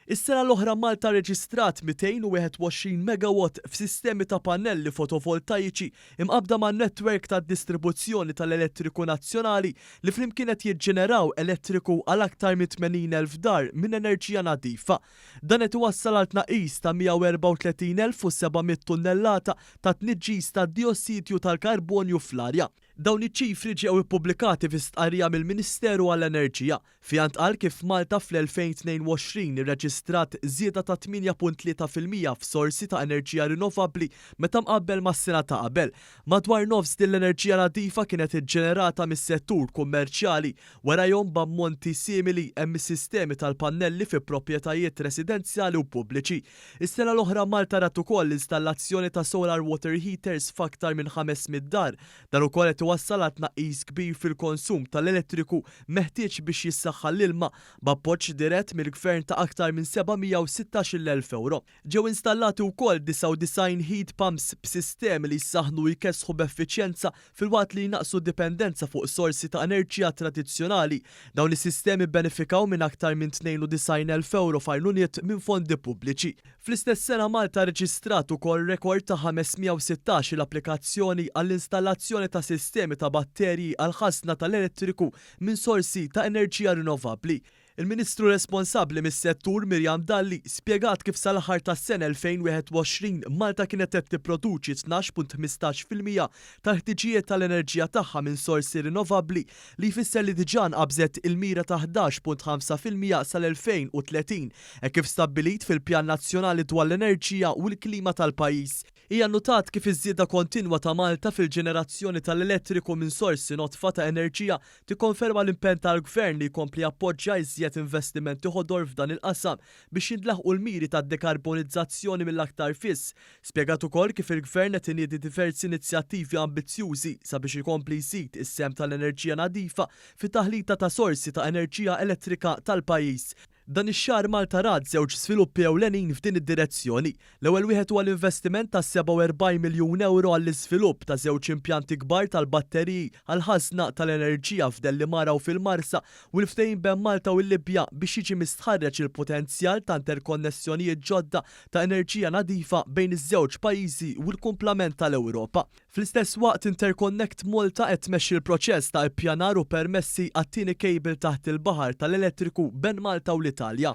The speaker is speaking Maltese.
Is-sena l-oħra Malta rreġistrat 221 megawatt f'sistemi ta' pannelli fotovoltajiċi mqabbda man-netwerk tad-distribuzzjoni tal-elettriku nazzjonali li flimkien qed jiġġeneraw elettriku għal aktar minn 80,000 dar minn enerġija nadifa. Dan qed iwassal għal tnaqqis ta' 134,700 tunnellata ta' tniġġis tad-dijossidju tal-karbonju fl-arja. Dawn iċ-ċifri ġew ippubblikati fi stqarrija mill-Ministeru għall-Enerġija, fiha ntqal kif Malta fl-2022 irreġistrat żieda ta' 8.3 fil-mija f'sorsi ta' enerġija rinnovabbli meta mqabbel mas-sena ta' qabel. Madwar nofs din l-enerġija nadifa kienet iġġenerata mis-settur kummerċjali. Warajhom b'ammonti simili hemm is-sistemi tal-pannelli fi proprjetajiet residenzjali u pubbliċi. Is-sena l-oħra Malta rat ukoll l-installazzjoni ta' solar water heaters f'aktar minn 500 dar. Dan ukoll qed iwassal għal tnaqqis kbir fil-konsum tal-elettriku meħtieġ biex jissaħħa l-ilma b'appoġġ dirett mill-Gvern ta' aktar minn 716,000 ewro. Ġew installati wkoll 99 heat pumps b'sistemi li jsaħħnu u jkessħu b'effiċjenza Filwaqt li jnaqqsu d-dipendenza fuq sorsi ta' enerġija tradizzjonali, dawn is-sistemi bbenefikaw minn aktar minn 92,000 ewro f'għajnuniet minn fondi pubbliċi. Fl-istess sena Malta rreġistrat ukoll rekord ta' 516-il applikazzjoni għall-installazzjoni ta' sistemi ta' batterji għall-ħażna tal-elettriku minn sorsi ta' enerġija rinnovabbli. Il-Ministru responsabbli mis-settur Miriam Dalli spjegat kif sal-aħħar tas-sena 2021 Malta kienet qed tipproduċi 12.15 fil-mija tal-ħtiġijiet tal-enerġija tagħha minn sorsi rinnovabbli li jfisser li diġà nqabżet il-mira ta' 11.5 fil-mija sal-2030 hekk kif stabbilit fil-Pjan Nazzjonali dwar l-Enerġija u l-Klima tal-pajjiż. Hija nnutat kif iż-żieda kontinwa ta' Malta fil-ġenerazzjoni tal-elettriku minn sorsi nodfa ta' enerġija tikkonferma l-impenn tal-Gvern li jkompli jappoġġja iżjed investimenti ħodor f'dan il-qasam biex jintlaħqu l-miri tad-dekarbonizzazzjoni mill-aktar fis. Spjegat ukoll kif il-Gvern qed iniedi diversi inizjattivi ambizzjużi sabiex ikompli jżid is-sehem tal-enerġija nadifa fit-taħlita ta' sorsi ta' enerġija elettrika tal-pajjiż. Dan ix-xahar Malta rat żewġ żviluppi ewlenin f'din id-direzzjoni. L-ewwel wieħed huwa l-investiment ta' 47 miljun ewro għall-iżvilupp ta' żewġ impjanti kbar tal-batteriji għall-ħażna tal-enerġija f'Dellimara u fil-Marsa u l-ftehim ben Malta u l-Libja biex jiġi mistħarreġ il-potenzjal ta' interkonnessjonijiet ġodda ta' enerġija nadifa bejn iż-żewġ pajjiżi u l-kumplament tal-Ewropa. Fl-istess waqt, Interconnect Malta qed tmexxi l-proċess ta' ippjanar u permessi għat-tieni kejbil taħt il-baħar tal-elettriku ben Malta u l-Italja.